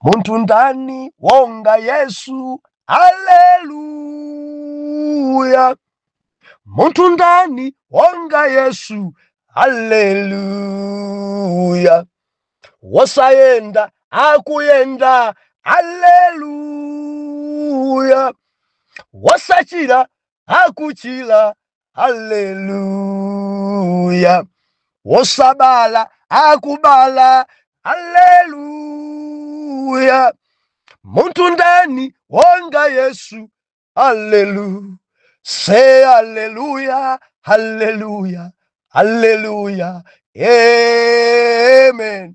Munthu ndani onga Yesu? Haleluya! Munthu ndani onga Yesu? Haleluya! Wosayenda akuyenda, haleluya! Wosachira akuchira, haleluya wosabala akubala haleluya munthu ndani wonga yesu haleluya say haleluya haleluya haleluya amen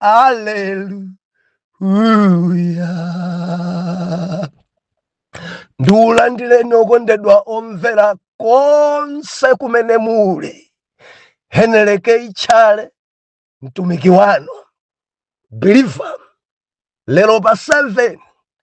Hallelujah. ndikulandireni okondedwa omvera konse kumene muli heneleke itchale mtumiki wanu Believer lero pa 7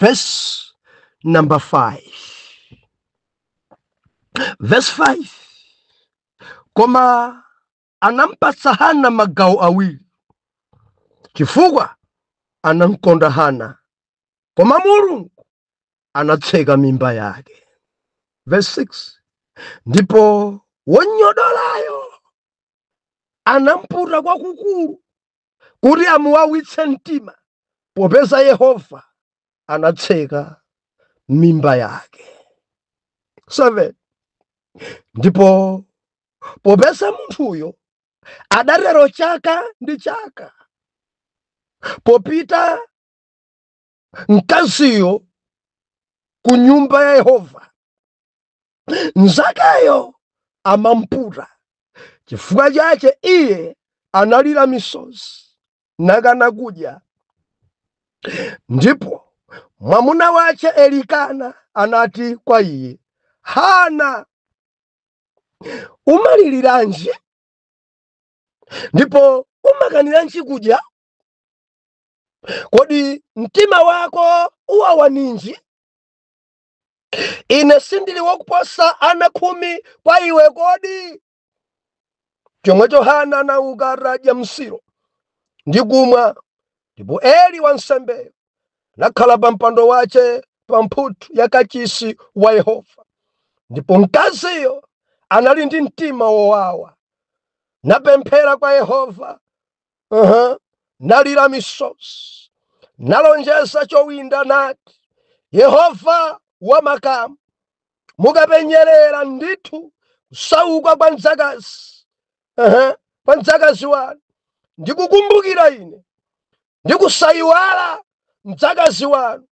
verse number 5 verse 5 koma anampatsa hana magawo awiri chifukwa anamkonda hana koma mulungu anatseka mimba yake verse 6 ndipo wonyodolayo anamputa kwakukulu kuti amuwawitse mtima, popeza Yehova anatseka mimba yake. 7 ndipo popeza munthuyo adatero chaka ndi chaka popita mkaziyo ku nyumba ya Yehova. Mnzakeyo amamputa chifukwa chache iye analira misozi nakana kudya. Ndipo mwamuna wache Elikana anati kwa iye, Hana, umaliliranji ndipo umakaniranji kudya? kodi mtima wako uwawa ninji ine sindili wakuposa ana khumi kwa iwe kodi chomwecho hana anauka atadya m'Silo ndi kumwa ndipo eli wansembeyo anakhala pa mpando wache pa mphuthu ya kachisi wa yehova ndipo mkaziyo anali ndi mtima wowawa napemphera kwa yehova nalira misozi nalonjeza chowinda nati yehova wa makamu mukapenyerera ndithu kusauka kwa mdzakazi kwa mdzakazi wanu ndikukumbukira ine ndikusayiwala mdzakazi wanu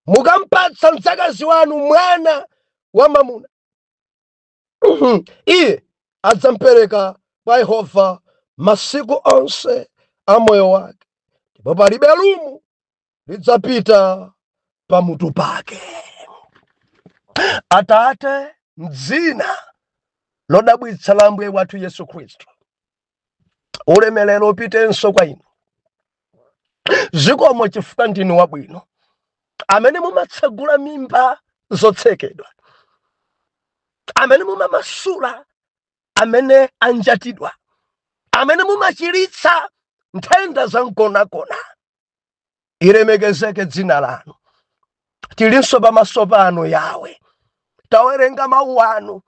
mukampatsa mdzakazi wanu mwana wamwamuna iye adzampereka kwa Yehova masiku onse a moyo wake, ndipo palibe lumo lidzapita pamutu pake. Atate, m'dzina lodabwitsa la Ambuye wathu Yesu Khristu, ulemerero upitenso kwa inu zikomo chifukwa ndinu wabwino amene mumatsegula mimba zotsekedwa amene mumamasula amene anjatidwa amene mumachiritsa nthenda za mgonagona ilemekezeke dzina lanu tilinso pamaso panu yawe tawerenga mawu anu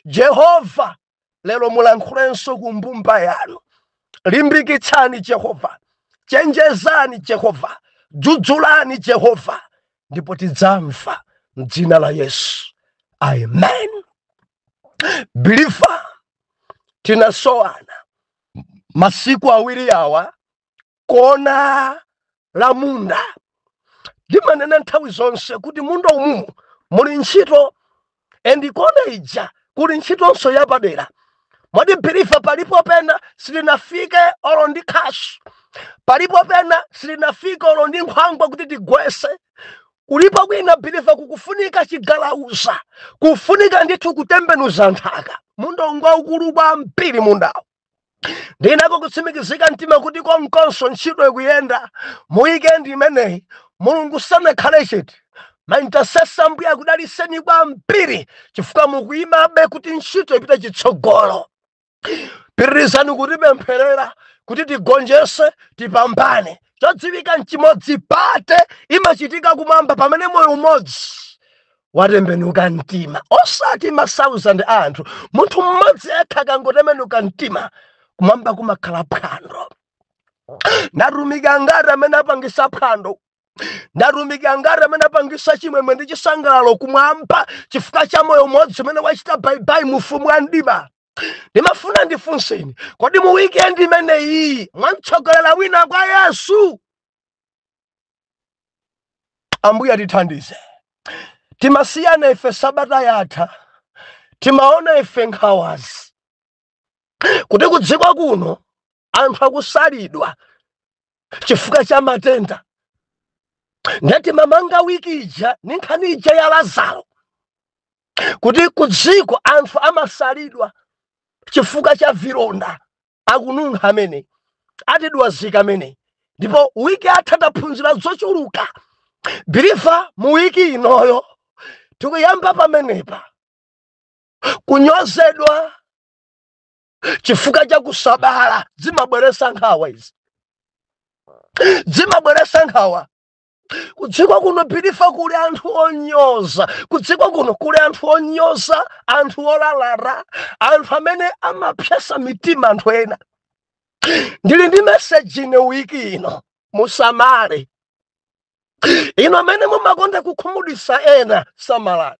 jehova lero mulankhulenso ku mbumba yanu limbikitsani jehova chenjezani jehova dzudzulani jehova ndipo tidzamva mdzina la yesu amen biliva tinasowana masiku awiri awa kona la munda ndimanena nthawi zonse kuti munda umumu muli ntchito and kona ija kuli ntchitonso yapadera mwadi biliva palipo pena silinafike olo ndi khasu palipo pena silinafike olo ndi nkhwangwa kuti tigwese kulipo kwina biliva kukufunika chigalauza kufunika ndithu kutembenuza nthaka munda ngwaukulu kwambiri mundawo ndinako kutsimikizika mtima kuti konkonso ntchito ikuyenda mu wikendi imeneyi mulungu sanakhale chete maintasesa ambuye akudaliseni kwambiri chifukwa mukuyimabe kuti ntchito ipite chitsogolo pitirizani kutipempherera kuti tigonjese tipambane chodziwika nchimodzi pate imachitika kumwamba pamene moyo umodzi watembenuka mtima osati ma 1000 a anthu munthu mmodzi yekha akangotembenuka mtima kumwamba kumakhala phwando ndatumiki angati amene apangisa phwando ndatumiki angati amene apangisa chimwemwe ndi chisangalalo kumwamba chifukwa cha moyo umodzi umene wachita baibai mu ufumu wa mdima ndimafuna ndifunseni kodi mu wikendi imeneyi mwamtsogolera wina kwa yesu ambuye atithandize timasiyana ife sabata yatha timaona ife nkhawazi kuti kudziko kuno anthu akusalidwa chifukwa cha matenda ndiye timamanga wiki ija ni nkhani ija ya lazaro kuti kudziko anthu amasalidwa chifukwa cha vilonda akununkha amene atidwazika amen ndipo wiki yatha taphunzira zochuluka believer mu wiki inoyo tikuyamba pamenepa kunyozedwa chifukwa cha kusabala zimabweresa nkhawa izi zimabweresa nkhawa kudziko kuno believer kuli anthu onyoza kudziko kuno kuli anthu onyoza anthu olalata anthu amene amapsesa mitima anthu ena ndili ndi message ine wiki ino musamale inu amene mumakonda kukhumudwisa ena samalani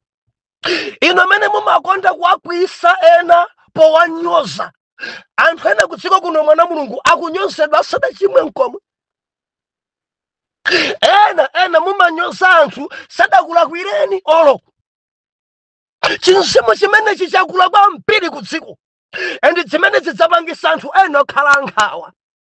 inu amene mumakonda kuwakwiyisa ena powanyoza anthu ena kudziko kuno mwana mulungu akunyozedwa asadachimwe nkomwe ena ena mumanyoza anthu sadakulakwireni olo chimzimu chimenechi chakula kwambiri kudziko and zimene zidzapangisa anthu ena okhala ankhawa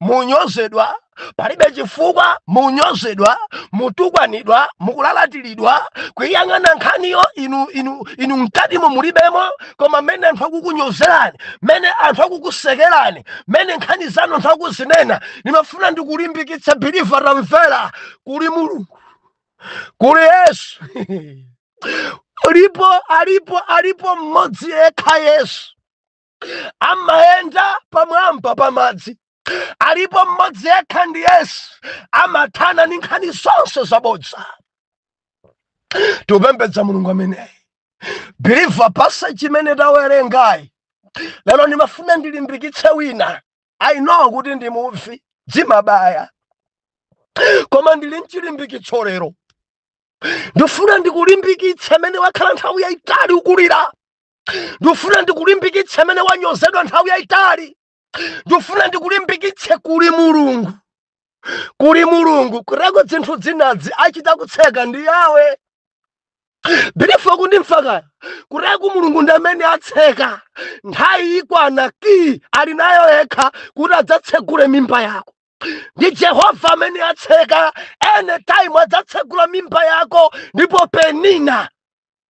munyozedwa palibe chifukwa munyozedwa mutukwanidwa mukulalatiridwa kuiyang'ana nkhaniyo inu inu inu mkatimo mulibemo koma mmene anthu akukunyozerani mmene anthu akukusekerani mmene nkhani zanu anthu akuzinena ndimafuna ndikulimbikitse believer tamvera kuli mulungu kuli yesu alipo alipo alipo mmodzi yekha yesu amayenda pamwamba pa madzi alipo mmodzi yekha ndi yesu amathana ndi nkhani zonse zabodza tikupembedza mulungu ameneyi believer passage imene tawerengayi lero ndimafuna ndilimbikitse wina i know kuti ndi muvi dzimabaya koma ndili nchilimbikitso lero ndifuna ndikulimbikitse amene wakhala nthawi yayitali ukulira ndifuna ndikulimbikitse amene wanyozedwa nthawi yayitali ndifuna ndikulimbikitse kuli mulungu kuli mulungu kutereko dzinthu dzinadzi achita kutseka ndi yawe believer ukundimva kaya kutereku mulungu ndi amene atseka nthawi ikwana key ali nayo yekha kuti adzatsegule mimba yako ndi jehova amene atseka anytime adzatsegula mimba yako ndipo penina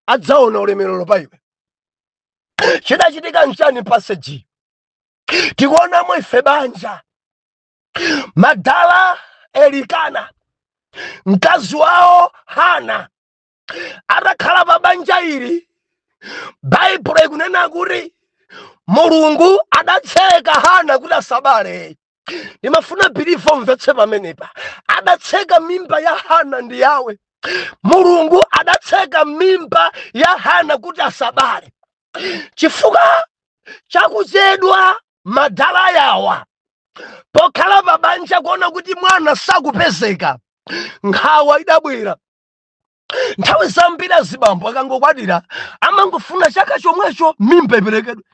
adzaona ulemerero pa iwe chidachitika nchani passage tikuonamo ife banja madala elikana mkazi wawo hana atakhala pa banja ili baibulo ikunena kuti mulungu adatseka hana kuti asabale ndimafuna bilivo mvetse pamenepa adatseka mimba ya hana ndi yawe mulungu adatseka mimba ya hana kuti asabale chifukwa chakuchedwa madala yawa pokhala pa banja kuona kuti mwana sakupezeka nkhawa idabwera nthawi zambiri azibambo akangokwatira amangofuna chaka chomwecho mimba iperekedwe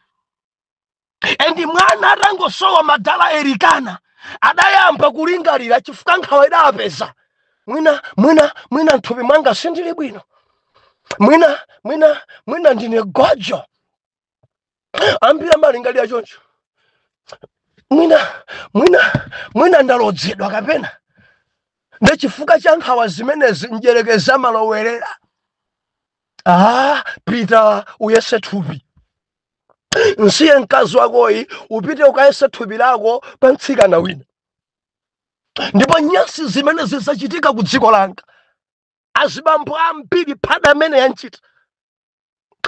endi mwana atangosowa madala elikana adayamba kulingalira chifukwa nkhawa idawapeza mwina mwina mwina nthupi mwanga sindili bwino mwina mwina mwina ndine gojo ambiri amalingalira choncho mwina mwina mwina ndalodzedwa kapena ndi chifukwa cha nkhawa zimenezi mdyerekezi amalowerera ah pita uyese thupi msiye mkazi wakoyi upite ukayese thupi lako pa mtsikana wina ndipo nyasi zimenezi zachitika ku dziko langa azibambo ambiri phada amene yanchita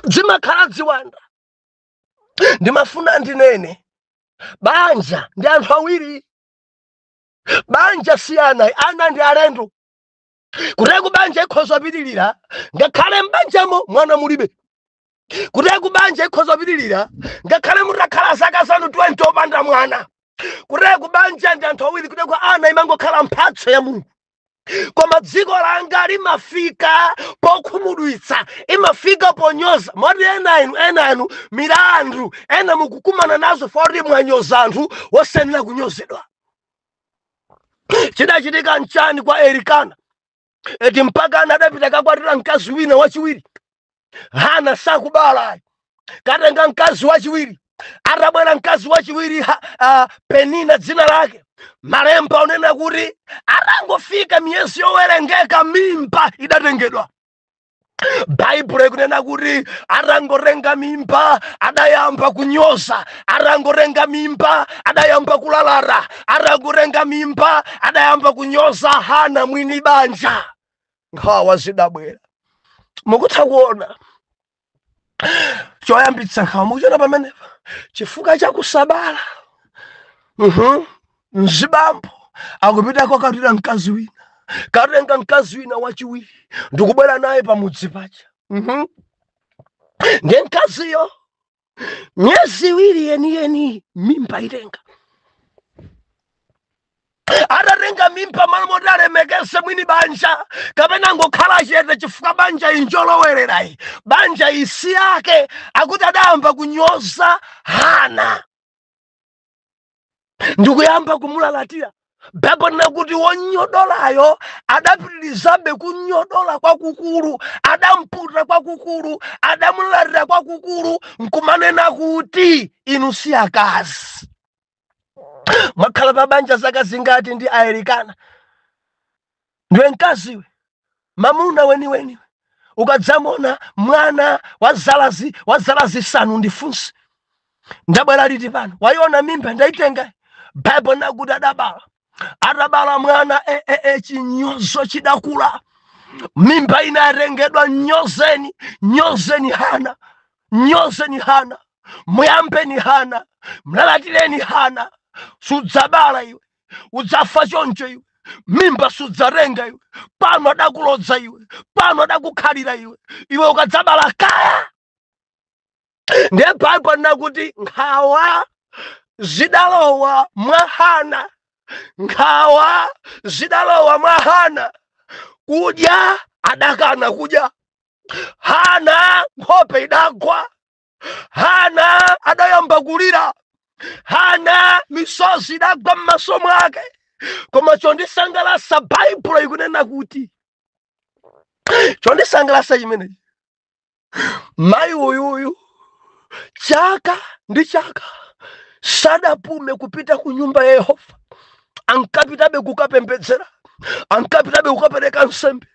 zimakhala ziwanda ndimafuna ndinene banja ndi anthu awiri banja si ana ana ndi alendo kuteko banja ikhoza pitilira ngakhale m'banjamo mwana mulibe kuteko banja ikhoza pitilira ngakhale mutakhala zaka zanu 20 opanda mwana kuteko banja ndi anthu awiri kuteko ana imangokhala mphatso ya mulungu koma dziko langa limafika pokhumudwitsa imafika ponyoza moti ena inu ena inu milandu ena mukukumana nazo foti mwanyoza anthu wosayenera kunyozedwa chidachitika nchani kwa elikana eti mpakana adapita kakwatira mkazi wina wachiwiri hana sakubala katenga mkazi wachiwiri atabwera mkazi wachiwiri uh, penina dzina lake malemba unena kuti atangofika miyezi yowerengeka mimba idatengedwa baibulo ikunena kuti atangotenga mimba adayamba kunyoza atangotenga mimba adayamba kulalata atangotenga mimba adayamba kunyoza hana mwini banja nkhawa zidabwera mukutha kuona choyambitsa nkhawa mukuchiona pamenepa chifukwa cha kusabala Mhm. mzibambo akupita kokakwatira mkazi wina katenga mkazi wina wachiwiri ndikubwera naye pamudzi paja Mhm. ndiye mkaziyo miyezi iwiri yeniyeni mimba itenga atatenga mimba malo moti alemekeze mwini banja kapena ngokhala chete chifukwa banja injolowererayi banja isiyake akuti adayamba kunyoza hana ndikuyamba kumulalatira baibulo likunena kuti wonyodolayo adapitirizabe kunyodola kwakukulu adamputa kwakukulu adamulalira kwakukulu nkumanena kuti inu si akazi mwakhala pa banja zaka zingati ndi a Elikana Ndiwe mkazi iwe, mamuna weniweni iwe. Ukadzamona mwana wa zala zi- wa zala zisanu undifunse ndabwera liti pano waiona mimba ndaitenga baibulo inena kuti adabala atabala mwana e, e, e, chinyozo chidakula mimba inatengedwa nyozeni nyozeni hana nyozeni hana muyambeni hana mlalatireni hana sudzabala iwe udzafa choncho iwe mimba sudzatenga iwe pano adakulodza iwe pano adakukhalira iwe iwe ukadzabala kaya ndiye baibulo likunena kuti nkhawa zidalowa mwa hana nkhawa zidalowa mwa hana kudya adakana kudya hana nkhope idagwa hana adayamba kulira hana misozi idagwa m'maso mwake koma chondisangalasa baibulo ikunena kuti chondisangalasa chimenechi mayi uyuyu chaka ndi chaka sadapume kupita ku nyumba ya yehova ankapitabe kukapembedzera ankapitabe kukapereka nsembe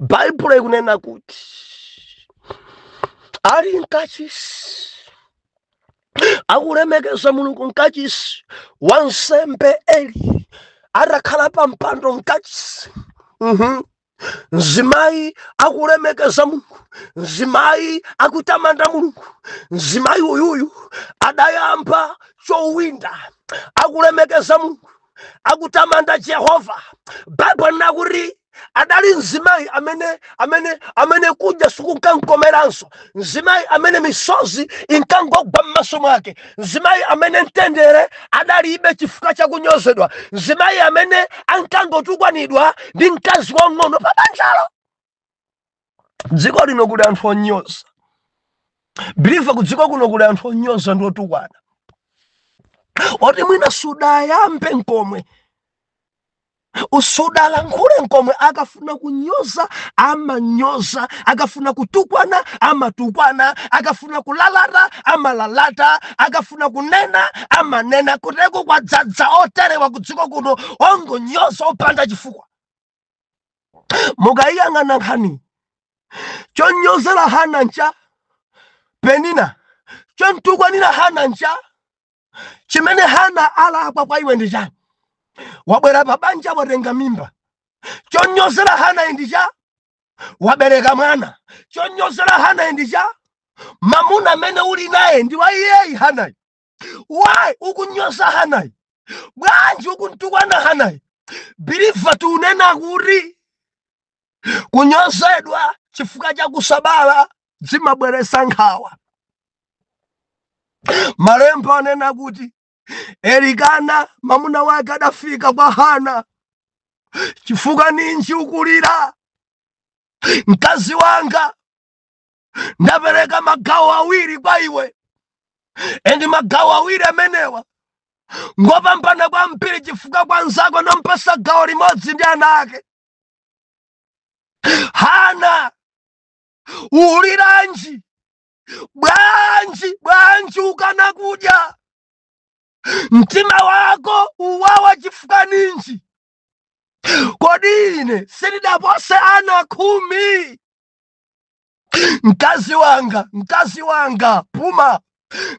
baibulo ikunena kuti ali mkachisi akulemekeza mulungu mkachisi wansembe eli atakhala pa mpando mkachisi Mhm. mzimayi akulemekeza mulungu mzimayi akutamanda mulungu mzimayi uyuyu adayamba chowinda akulemekeza mulungu akutamanda jehova baibulo likunena kuti adali mzimayi amene amene amene kudya sikunkamkomeranso mzimayi amene misozi inkangogwa m'maso mwake mzimayi amene mtendere adalibe chifukwa chakunyozedwa mzimayi amene ankangotukwanidwa ndi mkazi wang'ono pa banjalo dziko lino kuli anthu onyoza biliva kudziko kuno kuli anthu onyoza ndi otukwana oti mwina sudayambe nkomwe usudalankhule nkomwe akafuna kunyoza amanyoza akafuna kutukwana amatukwana akafuna kulalata amalalata akafuna kunena amanena kuteko kwadzadza oterewa kudziko kuno ongonyoza opanda chifukwa mukayiyang'ana nkhani chonyozera hana ncha penina chontukwanira hana ncha chimene hana alakwa kwa iwe ndi cha wabwera pa banja watenga mimba chonyozera hana ndi cha wabereka mwana chonyozera hana ndi cha mamuna amene uli naye ndi wa iyeyi hanayi why ukunyoza hanayi bwanji ukuntukwana hanayi biliva tikunena kuti kunyozedwa chifukwa cha kusabala zimabweresa nkhawa malemba anena kuti elikana mamuna wake adafika kwa hana chifukwa ninji ukulira mkazi wanga ndapereka magawo awiri kwa iwe endi magawo awiri amenewa ngopambana kwambiri chifukwa kwa nzako nampasa gawo limodzi ndi ana ake hana uliranji bwanji bwanji ukana kudya mtima wako uwawa chifukwa ninji kodi ine sindidapose ana khumi mkazi wanga mkazi wanga puma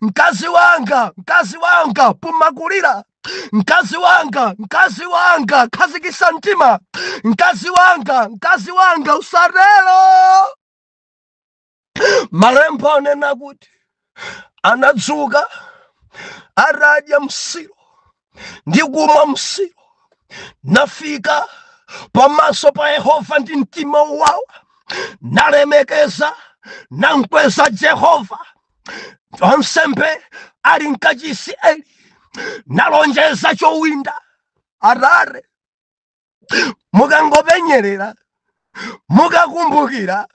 mkazi wanga mkazi wanga puma kulira mkazi wanga mkazi wanga khazikisa mtima mkazi wanga mkazi wanga usatelo malemba anena kuti anadzuka atadya msiro ndi kumwa msiro nafika pamaso pa yehova ndi mtima wowawa nalemekeza nankweza jehova wansembe ali mkachisi eli nalonjeza chowinda atate mukangopenyerera mukakumbukira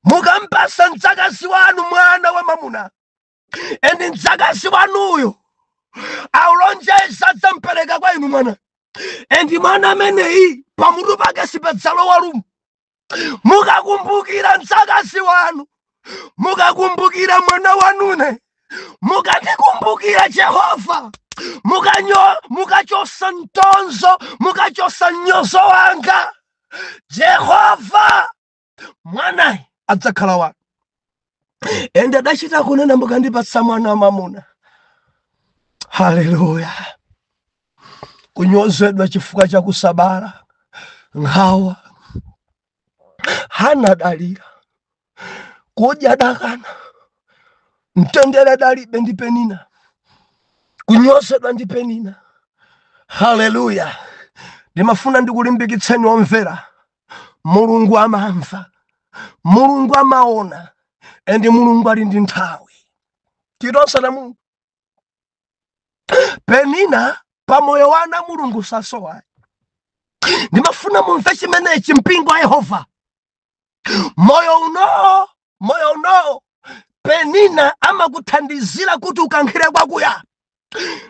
mukampasa mdzakazi wanu mwana wa mamuna endi mdzakazi wanuyo akulonjeza adzampereka kwa inu mwana endi mwana ameneyi pamutu pake sipadzalowa lumo mukakumbukira mdzakazi wanu mukakumbukira mwana wanune mukandikumbukira jehova mukanyo- mukachosa mtonzo mukachosa mnyozo wanga jehova mwanayi adzakhala wanu ende adachita kunena mukandipatsa mwana wamamuna haleluya kunyozedwa chifukwa cha kusabala nkhawa hana dalira kudya dakana mtendere dalibe ndi penina kunyozedwa ndi penina haleluya ndimafuna ndikulimbikitseni omvera mulungu amamva mulungu amaona and mulungu ali ndi nthawi ife ana a mulungu penina pa moyo wa ana mulungu sasowayi ndimafuna mumve chimenechi mpingo wa yehova moyo uno moyo unowo penina amakuthandizira kuti ukankhire kwakuya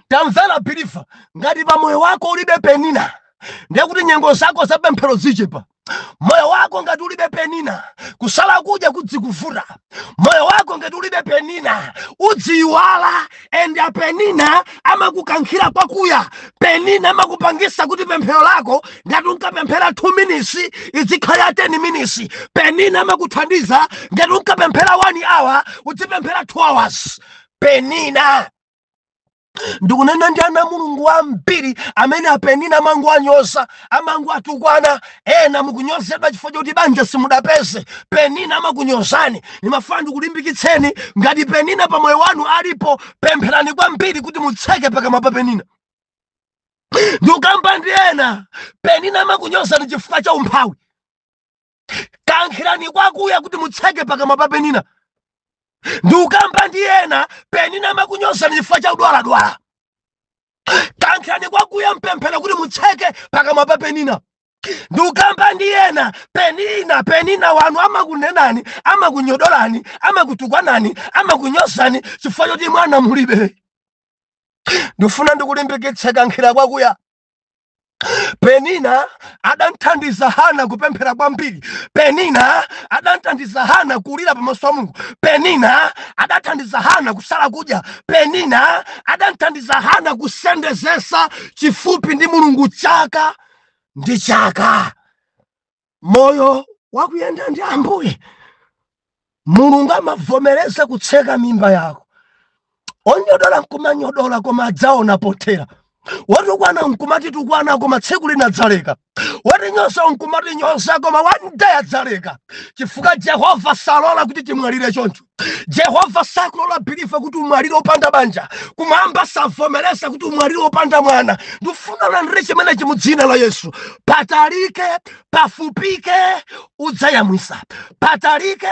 tamvera biliva ngati pa moyo wako ulibe penina ndiye kuti nyengo zako za pemphero zichepa moyo wako ngati ulibe penina kusala kudya kudzikuvuta moyo wako ngati ulibe penina udziyiwala and a penina amakukankhira kwakuya penina amakupangisa kuti pemphero lako ngati unkapemphera 2 minutes idzikhala 10 minutes penina amakuthandiza ngati unkapemphera 1 hour udzipemphera 2 hours penina ndikunena ndi ana a mulungu ambiri amene apenina amangowanyoza amangowatukwana ena mukunyozedwa chifukwa choti banja simudapeze penina amakunyozani ndimafuna ndikulimbikitseni ngati penina pa moyo wanu alipo pempherani kwambiri kuti mutseke pakamwa pa penina ndikukamba ndi ena penina amakunyozani chifukwa cha umphawi kankhirani kwakuya kuti mutseke pakamwa pa penina ndikukamba ndi ena penina amakunyozani chifukwa cha udwaladwala kankhirani kwakuya mpemphero kuti mutseke pakamwa pa penina ndikukamba ndi ena penina penina wanu amakunenani amakunyodolani amakutukwanani amakunyozani chifukwa choti mwana mulibe ndifuna ndikulimbikitse kankhira kwakuya Penina adamthandiza Hana kupemphera kwambiri. Penina adamthandiza Hana kulira pamaso pa Mulungu. Penina adathandiza Hana kusala kudya. Penina adamthandiza Hana kusendezesa chifupi ndi Mulungu chaka ndi chaka. moyo wakuyenda ndi ambuye mulungu amavomereza kutseka mimba yako onyodola nkumanyodola koma adzaona pothera watukwana nkumatitukwana koma tsiku lina adzaleka watinyoza nkumatinyoza koma one day adzaleka chifukwa jehova salola kuti timwalire choncho jehova sakulola believer kuti umwalire opanda banja kumwamba savomereza kuti umwalire opanda mwana ndifuna ulandire chimenechi mu dzina la yesu patalike pafupike udzayamwisa patalike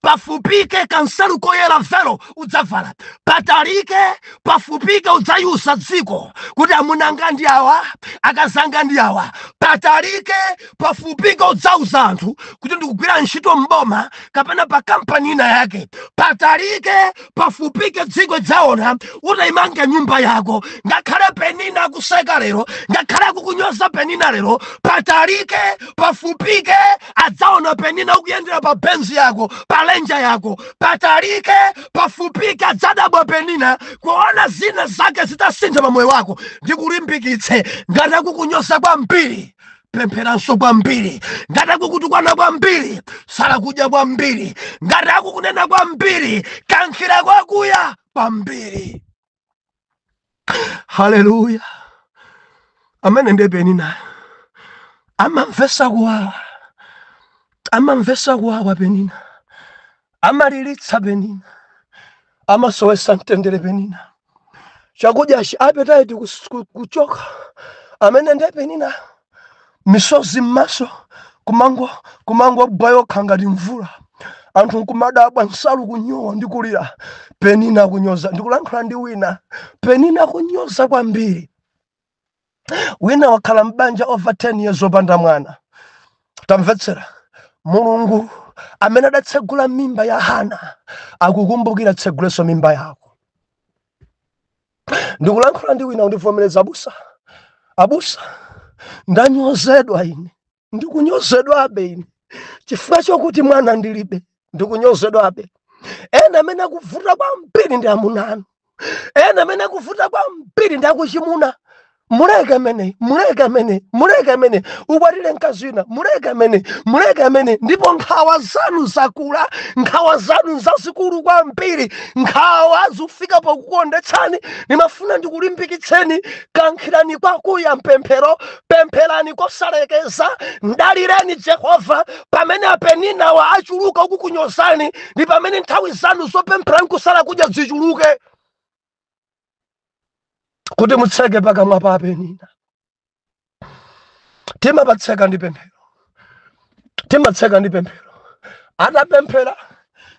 pafupike kansalu koyera velo udzavala patalike pafupike udzaiuza dziko kuti amunanga ndi awa akazanga ndi awa patalike pafupike udzauza anthu kuti ndikugwira ntchito m'boma kapena pa kampani ina yake patalike pafupike dziko idzaona utaimanga nyumba yako ngakhale penina akuseka lero ngakhale akukunyoza penina lero patalike pafupike adzaona penina ukuyendera pa benzi yako pa lenja yako patalike pafupike adzadabwa penina kuona zina zake zitasintha pa moyo wako ndikulimbikitse ngati akukunyoza kwambiri pempheranso kwambiri ngati akukutukwana kwambiri sala kudya kwambiri ngati akukunena kwambiri kankhira kwakuya kwambiri haleluya amene nde peninayo amamvesa kuwawa amamvesa kuwawa penina amaliritsa penina amasowesa mtendere penina chakudyachi appetite kuchoka amene nde penina misozi m'maso kumango kumangogwa yokha ngati mvula anthu nkumadabwa nsalu kunyowa ndi kulira penina kunyoza ndikulankhula ndi wina penina kunyoza kwambiri wina wakhala m'banja over 10 years opanda mwana tamvetsera mulungu amene adatsegula mimba ya hana akukumbukira atsegulenso mimba yako ndikulankhula ndi wina undivomereza abusa abusa ndanyozedwa ine ndikunyozedwabe ine chifukwa chokuti mwana ndilibe ndikunyozedwabe ena amene akuvuta kwambiri ndi amuna anu ena amene akuvuta kwambiri ndi akuchimuna muleke ameneyi muleke ameneyi muleke ameneyi ukwatire mkazi wina muleke ameneyi muleke ameneyi ndipo nkhawa zanu zakula nkhawa zanu zazikulu kwambiri nkhawa zikufika pokukuondetsani ndimafuna ndikulimbikitseni kankhirani kwakuya mpemphero pempherani kosalekeza mdalireni jehova pamene apeninawa achuluka kukunyozani ndi pamene nthawi zanu zopemphera nkusala kudya zichuluke kuti mutseke pakamwa pa apenina timapatseka ndi pemphero timatseka ndi pemphero atapemphera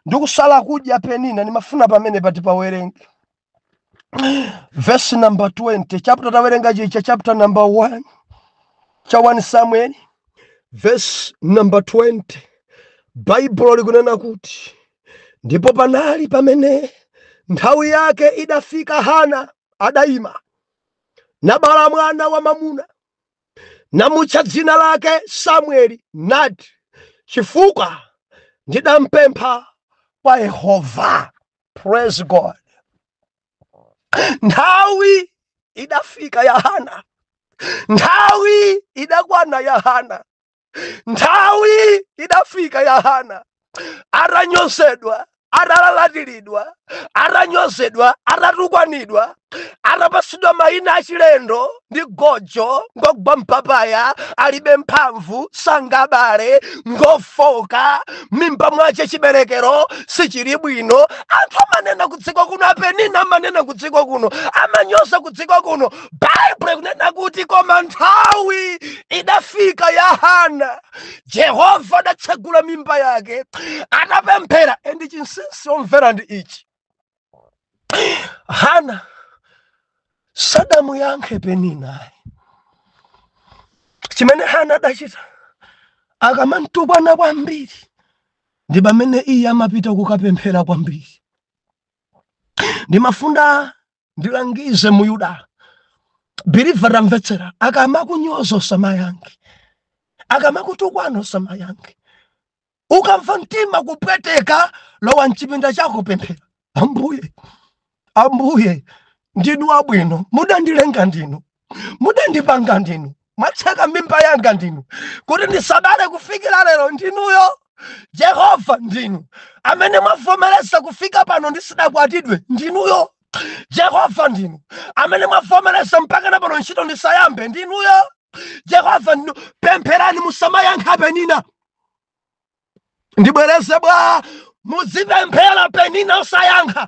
ndi kusala kudya penina ndimafuna pamene pati pawerenge vesi namba 20 chapter tawerenga chija chapter namba 1 cha 1 samuel vesi namba 20 baibulo likunena kuti ndipo panali pamene nthawi yake idafika hana adaima nabala mwana wamwamuna namutcha dzina lake samueli nati chifukwa ndidampempha kwa yehova praise god nthawi idafika ya hana nthawi idakwana ya hana nthawi idafika ya hana atanyozedwa atalalatilidwa atanyozedwa atatukwanidwa atapatsidwa mayina achilendo ndi gojo ngogwa mpapaya alibe mphamvu sangabale ngofoka mimba mwache chiberekero sichili bwino anthu amanena kudziko kuno apenina amanena kudziko kuno amanyoza kudziko kuno baibulo likunena kuti koma nthawi idafika ya hana jehova adatsegula mimba yake atapemphera endi chinsinsi omvera ndi ichi hana sadamuyankhe peninayi chimene hana adachita akamamtukwana kwambiri ndi pamene iye amapita kukapemphera kwambiri ndimafuna ndilangize myuda believer tamvetsera akamakunyoza usamayankhe akamakutukwana usamayankhe ukamva mtima kupweteka lowa mchipinda chako pemphera ambuye ambuye ndinu wabwino mudandilenga ndinu mudandipanga ndinu mwatseka mimba yanga ndinu kuti ndisabale kufikira lero ndinuyo jehova ndinu amene mwavomereza kufika pano ndisidakwatidwe ndinuyo jehova ndinu amene mwavomereza mpaka na pano ntchito ndisayambe ndinuyo jehova ndinu pempherani musamayankha penina ndibwereze bwa muzipemphera penina osayankha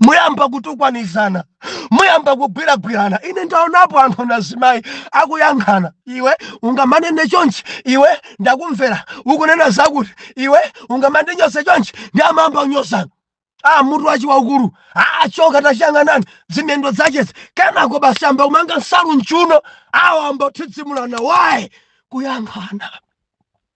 muyamba kutukwanizana muyamba kugwiragwirana ine ndaonapo anthu na zimayi akuyankhana iwe ungamanene chonchi iwe ndakumvera ukunena zakuti iwe ungamandinyose chonchi nde amayamba kunyozana a mutu wache waukulu achoka tachiyang'anani zimiyendo zachezi kenako basi ayamba kumanga nsalu mchuno awo ayamba kuthidzimulana waye kuyankhana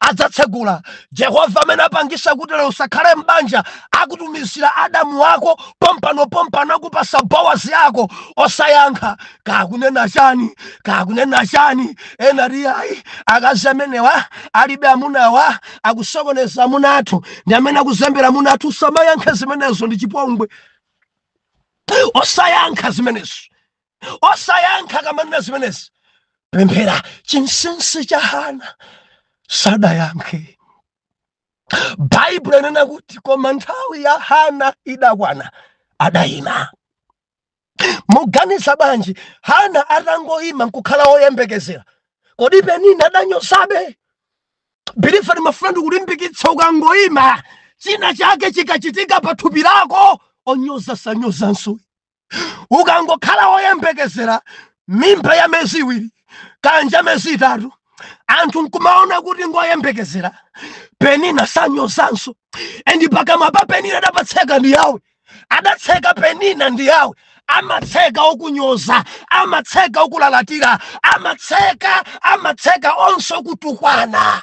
adzatsegula. Jehovah amene apangisa kuti lero usakhale m'banja akutumizira Adamu wako pompano pompano akupasa Boazi yako osayankha kakunena chani kakunena chani ena ati ayi akazi amenewa alibe amunawa akusokoneza amuna athu ndi amene akuzembera amuna athu usamayankhe zimenezo ndi chipongwe osayankha zimenezo osayankha kamanena zimenezi pemphera chinsinsi cha hana sadayankhe baibulo linena kuti koma nthawi ya hana idakwana adayima muganiza bwanji hana atangoyima nkukhala woyembekezera kodi penina adanyozabe believer ndimafuna ndikulimbikitsa ukangoyima china chake chikachitika pa thupi lako onyoza sanyozanso ukangokhala woyembekezera mimba ya miyezi iwiri kaya miyezi itatu anthu nkumaona kuti ngoyembekezera penina sanyozanso and pakamwa pa penina adapatseka ndi yawe adatseka penina ndi yawe amatseka okunyoza amatseka okulalatira amatseka amatseka onse okutukwana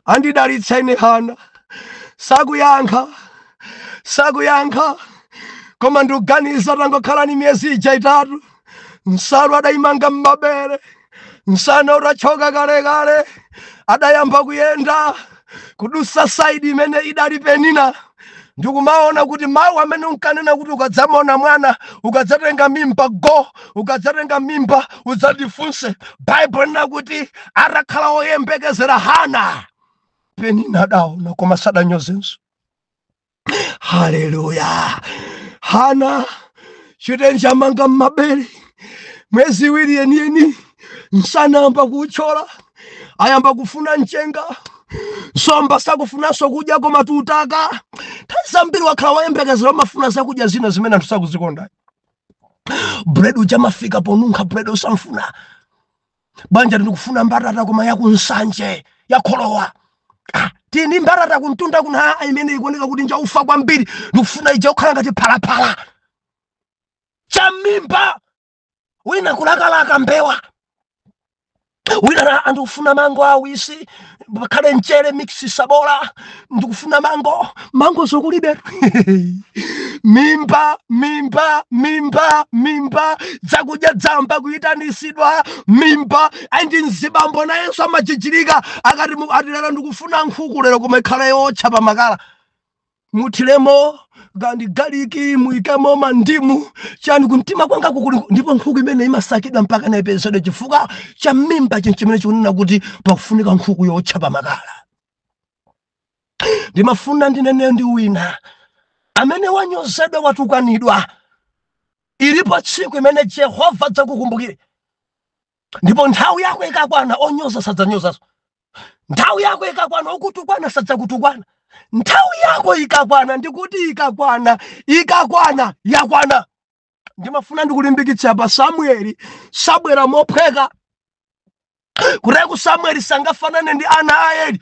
andidalitsa ine hana sakuyankha sakuyankha koma ndikuganiza atangokhala ndi miyezi ija itatu nsalu adayimanga m'mabere nsana utatchoka kalekale adayamba kuyenda kudutsa side imene idali penina ndikumaona kuti mawu amene unkanena kuti ukadzamaona mwana ukadzatenga mimba go ukadzatenga mimba udzandifunse baibulo linena kuti atakhala woyembekezera hana penina adaona koma sadanyozenso haleluya hana chitenje amanga m'mabere mwezi iwiri yeniyeni nsana ayamba kuutchola ayamba kufuna mchenga nsomba sakufunanso kudya koma tutaka nthawi zambiri wakhala woyembekezera amafuna zakudya zina zimene anthu sakuzikonda bread uja amafika ponunkha bread osamfuna banja ndikufuna mbatata koma yakunsanje yakholowa ah, timbatata kumtunda kuna imene ikuoneka kuti nja ufa kwambiri ndikufuna ija kukhala ngati phalaphala cham'mimba wina kulakalaka mbewa wina ndikufuna mango awisi pakhale mchere mixi sabola ndikufuna mango mango zokulibe mimba mimba mimba mimba zakudya dzamba kuyitanisidwa mimba endi mzibambo nayenso amajijirika akati mu- ati lero ndikufuna nkhuku lero koma ikhale yotcha pamakala muthiremo kandi galiki muikemo mandimu chani kumtima kwanga kukuli ndipo nkhuku imene imasakidwa mpaka naipezedwe chifukwa cha mimba ndi chimene chikunena kuti pakufunika nkhuku yotcha pamakala ndimafuna ndinene ndi wina amene wanyozedwa watukwanidwa ilipo tsiku imene jehova adzakukumbukire ndipo nthawi yako ikakwana onyoza sadzanyozaso nthawi yako ikakwana okutukwana sadzakutukwana nthawi yako ikakwana ndikuti ikakwana ikakwana yakwana ndimafuna ndikulimbikitsa pa samueli sabwera mophweka kuteko samueli sangafanane ndi ana a eli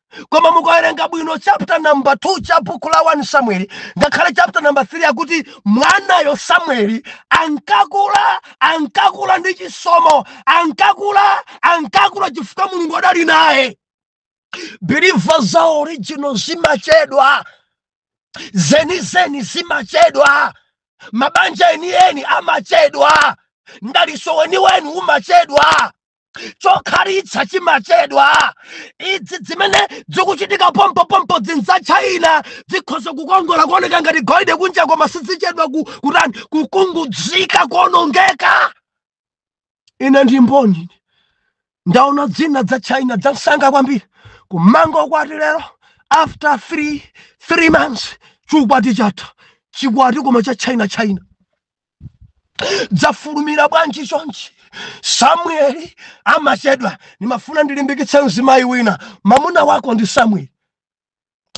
koma mukawerenga bwino chapter number 2 cha buku la 1 samueli ngakhale chapter number 3 akuti mwanayo samueli ankakula ankakula ndi chisomo ankakula ankakula chifukwa mulungu adali naye believer za original zimachedwa zenizeni zimachedwa mabanja enieni amachedwa mdalitso weniweni umachedwa chokhalitsa chimachedwa idzi zimene zikuchitika pompopompo dzinthu za china zikhoza kukongola kuoneka ngati golide kunja koma sizichedwa ku- kutani kukungudzika kuonongeka ine ndi mboni ndaona dzina dza china dzamsanga kwambiri kumanga ukwati lero after three, three months chikwati chatha chikwati koma cha china china dzafulumira bwanji chonchi samueli amachedwa ndimafuna ndilimbikitse mzimayi wina mamuna wako ndi samueli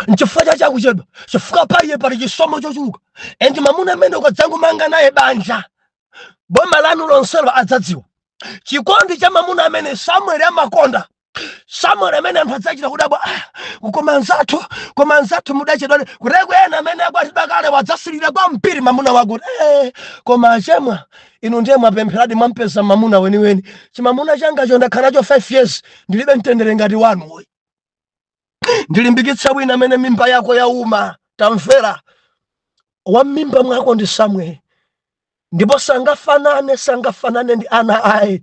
nchifukwa chache akuchedwa chifukwa pa iye pali chisomo chochuluka endi mamuna amene ukadzangomanga naye banja boma lanu lonselo adzadziwa chikondi cha mamuna amene samueli amakonda samueli amene anthu adzachita kudabwa ah, koma anzathu koma anzathu mudachedwa kuteko ena amene akwatidwa kale wadzasilira kwambiri mamuna wako eh, koma achemwa inu ndiye mwapempheradi mwampeza mamuna weniweni chimamuna changacho ndakhala nacho 5 years ndilibe mtendere ngati wanuyu ndilimbikitse wina amene mimba yako yauma tamvera wa mmimba mwako ndi samueli ndipo sangafanane sangafanane ndi ana ayi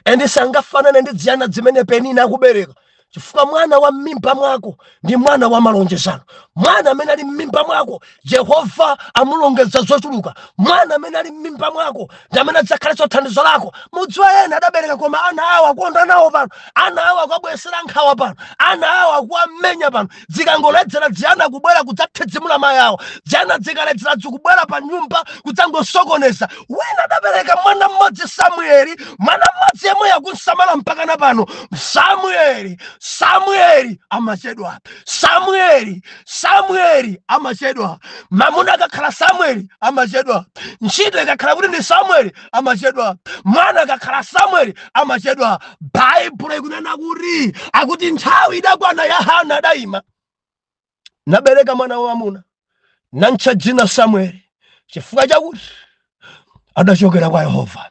endi sangafanane ndi dziyana dzimene penina akubereka chifukwa mwana wa mmimba mwako ndi mwana wa malonjezano mwana amene ali mmimba mwako jehova amulongeza zochuluka mwana amene ali m'mimba mwako ndi amene adzakhalenso thandizo lako mudziwa ena adabereka koma ana awo akuonda nawo pano ana awo akuwabweretsera nkhawa pano ana awo akuwamenya pano dzikangoledzera dziyana kubwera kudzathedzimula mayi awo dziyana dzikaledzera dzikubwera pa nyumba kudzangosokoneza wina adabereka mwana mmodzi samueli mwana mmodzi yemweyo akumusamala mpakana pano samueli samueli amachedwa samueli Samueli amachedwa, mamuna akakhala Samueli amachedwa, ntchito ikakhala kuti ndi Samueli amachedwa, mwana akakhala Samueli amachedwa. Baibulo ikunena kuti akuti nthawi idakwana ya Hana adayima nabereka mwana wamamuna namutcha dzina Samueli chifukwa chakuti adachokera kwa Yehova.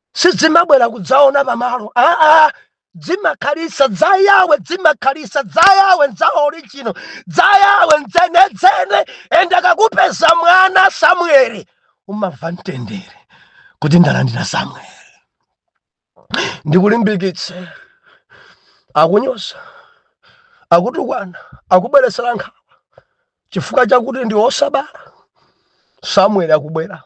sidzimabwera kudzaona pamalo aa dzimakhalitsa dza yawe dzimakhalitsa dza yawe ndza original dza yawe ndzenedzene ende akakupeza mwana samueli umamva mtendere kuti ndalandira samueli ndikulimbikitse akunyoza akutukwana akubweretsera nkhawa chifukwa chakuti ndiwe wosabala samueli akubwera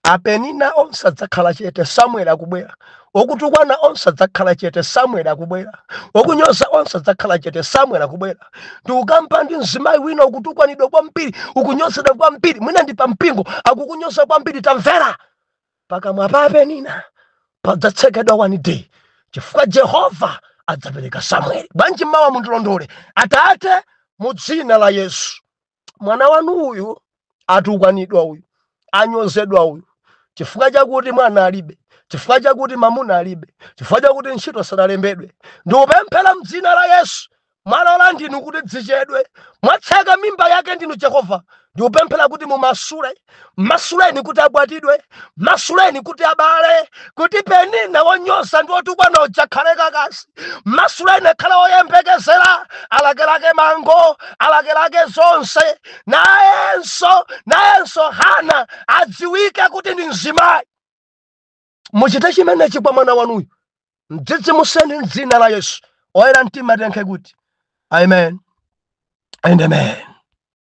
apenina onse adzakhala chete samueli akubwera okutukwana onse adzakhala chete samueli akubwera okunyoza onse adzakhala chete samueli akubwera ndikukamba ndi mzimayi wina ukutukwanidwa kwambiri ukunyozedwa kwambiri mwina ndi pampingo akukunyoza kwambiri tamvera pakamwa pa penina padzatsekedwa one day chifukwa jehova adzapereka samueli panji mmawu mundilondole atate mu dzina la yesu mwana wanu uyu atukwanidwa uyu anyozedwa uyu chifukwa chakuti mwana alibe chifukwa chakuti mamuna alibe chifukwa chakuti ntchito sadalembedwe ndikupemphera mdzina la yesu Mwalola ndinu kuti dzichedwe mwatseka mimba yake ndinu jehova ndikupemphera kuti mummasule mmasuleni kuti akwatiwe mmasuleni kuti abale kuti penina wonyoza ndi wotukwana uja akhale kakasi mmasuleni akhale woyembekezera alakelake mango alakelake zonse nayenso nayenso hana adziwike kuti ndi mzimayi muchite chimenechi kwa mwana wanuyu mdzidzimuseni mdzina la yesu oyera mtima tiyankhe kuti amen and amen